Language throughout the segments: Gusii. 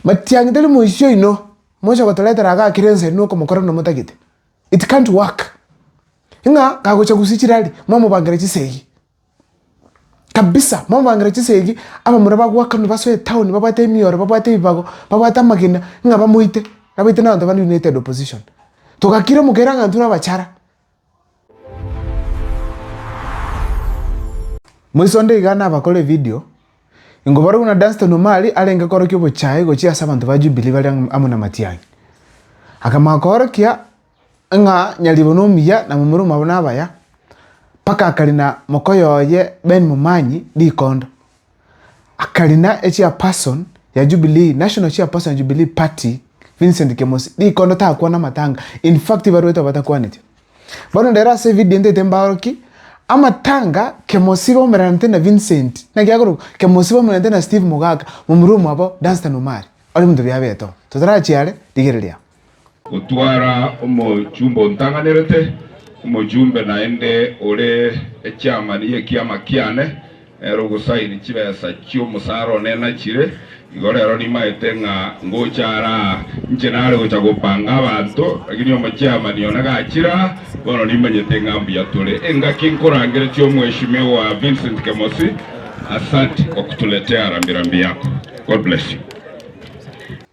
Matiang'i tari moisio oino, mocha gotoretera iga akere ensa ere nokomokora buna motagete. It can't work. Ng'a kagocha gosia chirari, mwamobangera chisegi. Kabisa, mwamobangera chisegi, abamura bagoakanwa basoe etown, babwate emioro, babwate ebibago, babwate amagena, ng'a bamoite, nabaite nabato bana united opposition. Togakira omokera ng'a intwe nabachara. Moiso onde iga nabakore evidio, ingo barabwo na Dunstan Omari arenge korokia obochaye gochia ase abanto ba Jubilee bare amo na Matiang'i. Akamanya koorokia ng'a nyaribo nomuya na momura omwabo nabaya, mpaka akari na mokoyo oye Ben Momanyi rikondo. akarina echairperson ya Jubilee, national chairperson ya Jubilee party Vincent Kemosi rikondo takwana amatanga in fact ibaruete batakwaneti bono rero ase evideo ntete mbaoroki amatanga Kemosi baumeranete na Vincent naki akorokwa Kemosi baumeranete na Steve Mogaka momura omwabo Dunstan Omari ore monto bia beto totarachiare rigereria. Gotwara omochumba ontang'anerete, omochumbe naende ore echiamani y'ekiama kiane, nere ogosaini chibesa chi'omosara one nachire. Igo rero nimaete ng'a ngocha ara aa, inche nare gocha gopanga abanto, lakini omochiamani one gachire aa, bono nimanyete ng'a mbuya tore. Engaki nkorangere chi'omweshimiwa Vincent Kemosi, asante gotuletea rambirambi yako. God bless you.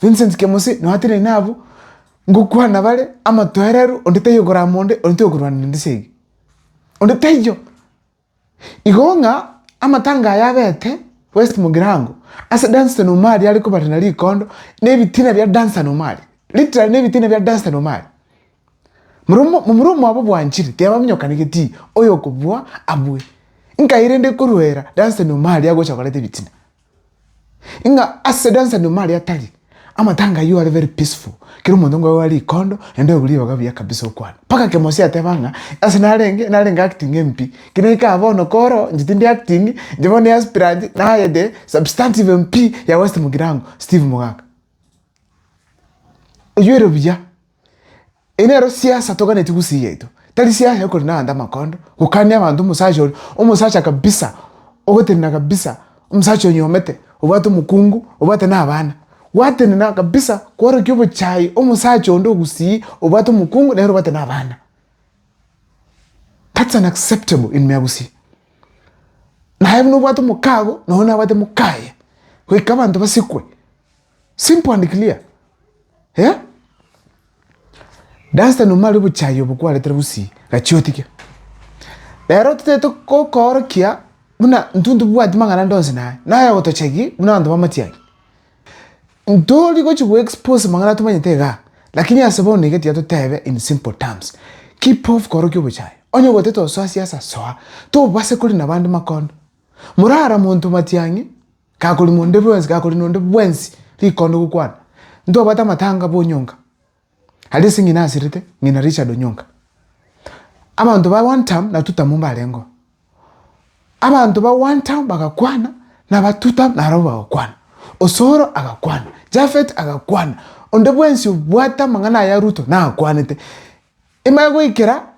Vincent Kemosi noatenene nabwo, Ngokwana bare amotoereru, onde taiyo okorama onde, onde taiyo okorwana nende esegi. Onde taiyo. Igo ng'a amatanga aya abete West Mugirango, ase Dunstan Omari are kobarana rikondo na ebitina bia Dunstan Omari. Literally na ebitina bia Dunstan Omari. Momura omwabo bwanchire, tibaminyokanegetie oyo okobua abue. Nkai rende ekoruera Dunstan Omari agocha koreta ebitina. Ng'a ase dansa nyuma aria tari amatanga aywo are very peaceful. Kera omonto ngoe wari ikondo naende oebu ribaga buya kabisa okwana. Paka Kemosi ateba ng'a ase narenge narenge acting empi. Kina ikaha bono koro inche tindi acting inche bono aspirant naye the substantive MP ya West Mugirango Steve Mogaka. Oyuere buya. Eye nero siasa toganeti gusii yaito tari siasa ya korina abanto amakondo gokania abanto omosacha oria omosacha kabisa ogotenena kabisa omosacha onyomete obwate omokungu obwate na abana gwatenena kabisa kworokia obochai omosacha onde ogusii obwate omokungu nere obwate na abana that's unacceptable in me gusii naye buna obwate omokago na oyo nabwate mokaye goika abanto basikwe. Simple and clear. Eh? Duster nomare obochai obo kwaretera bosii, gachia otige. Rero totete kokorokia buna ntwe ntobwati mang'ana ndonsi naye. Naye otochagi buna abanto bamatiagi. Ntori gochi go expose mang'ana tomanyete iga. Lakini ase bono iga tiga totebe in simple terms. Keep off korokia obochai. Onye ogotete osoa siasa soa. Tobase kori nabande makondo. Morara monto matiang'i. Gakori nonde bwensi, gakori nonde bwensi rikondo gokwana. Ntobwate amatanga bo Onyonga, aria ase ng'ina asirete, ng'ina Richard Onyonga. Abanto ba one term na two term mbarengeo. Abanto ba one term bagakwana, na aba two term naro bagakwana. Osoro agakwana, Japhet agakwana, onde bwensi obwate amang'ana aya Ruto nakwanete. Ime goikera.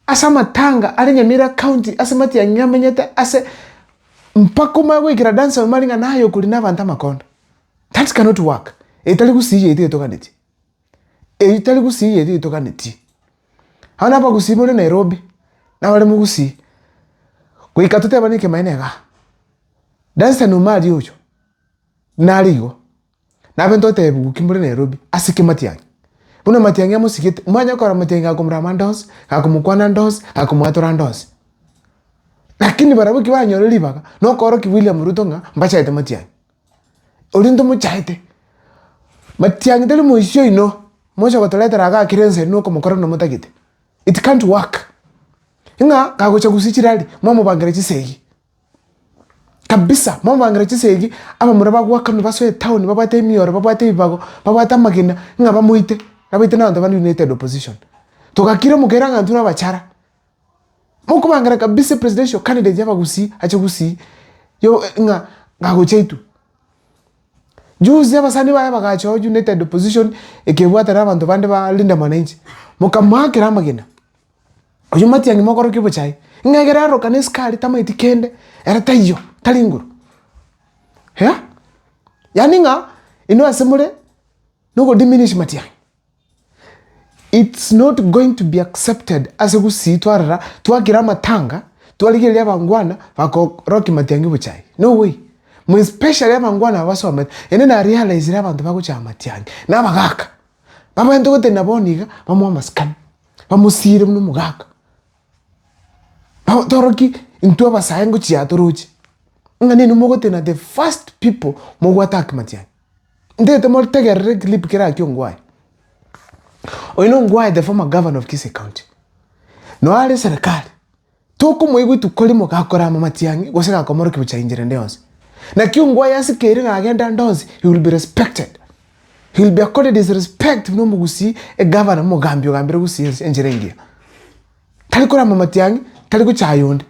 ase amatanga are Nyamira County ase matiang'i amenyete ase mpaka omanye goikera dansa omanye ng'a naye okori nabanto amakondo. That cannot work. Eye tari gusii yaito etoganetie. Eyio tari gusii yaito etoganetie. Abana abagusii more Nairobi nabare mogusii. Goika totebane ekemaene igaa. Dansa omari oyo nare igo. Nabe ntotebiwe ki more Nairobi ase ki matiang'i. Buna matiang'i amosigete, mwanya okora matiang'i gakomorama ande onsi, gakomokwana ande onsi, gakomwatora ande onsi. Lakini barabwo ki banyore ribaga, na okoorokia William Ruto ng'a mbachete matiang'i. Oria ntomochaete. Matiang'i tari moisio oino, mocha gotoretera iga kera ense erinde okomokora buna motagete. It can't work. Ng'a kagocha gusii chirari, mwamobangera chisegi. kabisa momobangere chinsa egi abamura bagoakanwa basoe town babwate emioro babwate ebibago babwate amagena ng'a bamoite abaite na abanto bande united opposition togakira omokere ng'a intwe nabachara mokobangera kabisa epresidential candidate y'abagusii ache gusii yo ng'a agocha intwe juzi abasani baye bagacha oo united opposition ekebwatana na abanto bande ba Linda Mwananchi mokamoakera amagena. Oyio matiang'i mogoroke bocha aye. Ng'a egere aroka ne sukari tamaeti kende, ere taiyo, tari inguru. Eeh. Yaani ng'a inwe ase more no go diminish matiang'i. It's not going to be accepted ase gusii twarora, twakira amatanga, twarigereria abangwana bakorokia matiang'i bocha aye. No way. More especially abangwana aba basomete. Ere na realizire abanto bagocha amatiang'i, na abagaka. Bamanyete gotebia na bono iga, bamoa amasikani. bamosiire buna omogaka, toroki intwe abasae ngochia aa toroche, ng'a nini mogotena the first people mo go attack matiang'i, ntaete motegerere clip kere akia ongwae, oyo na ongwae the former governor of kisii county, noo are serekari. Tokomoigwa itukori mogakora amamati ang'e gose gakomorokia gochia inchera ende yonsi. Naki ongo aye ase kere nagenda ande onsi, he will be respected. He will be accorded his respect buna omogusii, egavana, omogambi ogambire gusii ense enchera engiya. Tari kora amamati ang'e, tari gochaya onde.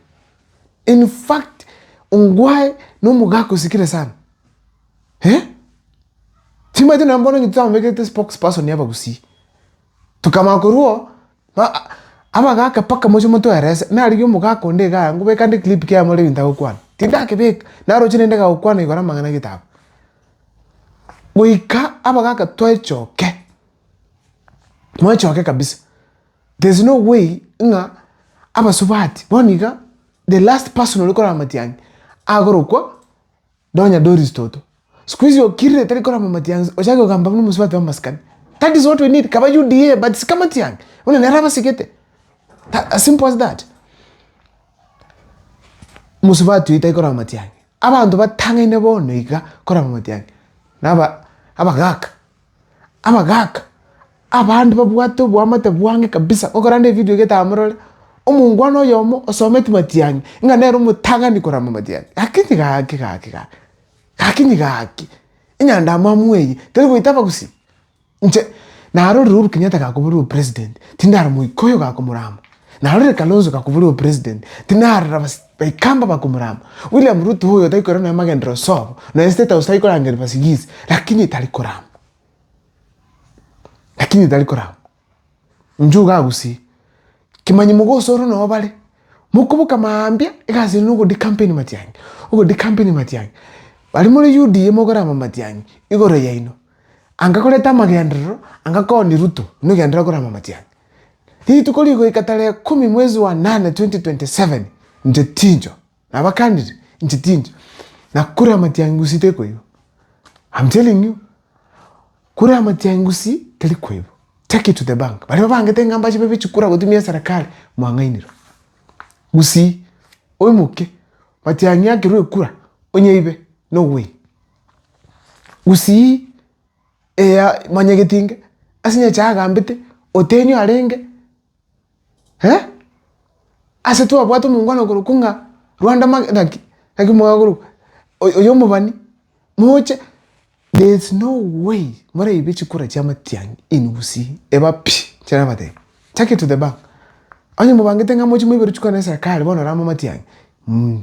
In fact, ongo aye na omogaka osikire sana. Eh? Timanyete nonya bono onye titamobekerete spokesperson y'abagusii. Tokamanya korwa oo, Amagaka mpaka mochie motoerese, narigia omogaka onde iga aya, ngobeka nde clip kia more ebinto agokwana, tindakebeka, naroche rende kagokwana igoro amang'ana a getabu. Goika abagaka twechoke, mwechoke kabisa, there is no way ng'a abasubati, bono iga the last person ore korara matiang'i, agorokwa. Nonya Doris toto. Sikuizi okirire tari korama matiang'i ochake kogamba buna omosubati bw'amasikani. That is what we need. Kaba UDA but sika matiang'i. Buna nere abasigete. As simple as that. Mosubati oyi tari korama matiang'i. Abanto batang'aine bono iga korama matiang'i. Naba abagaka. Abagaaka, abande babwate oboamate bwange kabisa, gokora nde evideo getaha morore, omongwana oyomo osometi matiang'i, ng'a nere omotang'ani korama matiang'i, gaki gaki gaki gaki, gaki gaki, enyandamwamu eye teri goita abagusii, inche narorire Uhuru Kenyatta gakoborwa president, tindara moika oyo gakomorama. Na rore Kalonzo gakoborwa obopresident, tinarora bas baikamba bakomorama. William Ruto oyo taikorera nonya magendereo ase obo, nonya state house taikorangeria basigisi, lakini tari korama. Lakini tari korama. Inche iga agusie, kimanyi mogosoro noyo bare, mokoboka mambia, egasi ere nogo decampaign Matiang'i, ogo decampaign Matiang'i. Baria more UDA mokorama Matiang'i, igoro yaino. Anga koreta amagenderero, anga kooni Ruto, omegenderere korama amatiang'i. Rituko rigoika tarehe ikomi mwezi wa nane 2027 inche tincho. Nabakanire, inche tincho. Na kure amatiang'i gusii tari koigwa. I'm telling you. Kure amatiang'i gusii tari koigwa. Take it to the bank. Baria babangete ng'a mbache babe chikura gotumia eserekari, mwang'ainire. Gusii, oimoke, matiang'i akerwe ekura, onye ibe, no way. Gusii eya manyegeti inke ase nyecha agambete oteni arenge eh ase twabwate omongwana korwa ko ng'a Rwanda mage naki naki mwakorokwa oyo oyo omobani moche there is no way moraibe chikura chia amatiang'i in Gusii eba pi nchira nabatebi take it to the bank onye mobangete ng'a mochie moiberwe chikura na eserekari bono orama amatiang'i mmh.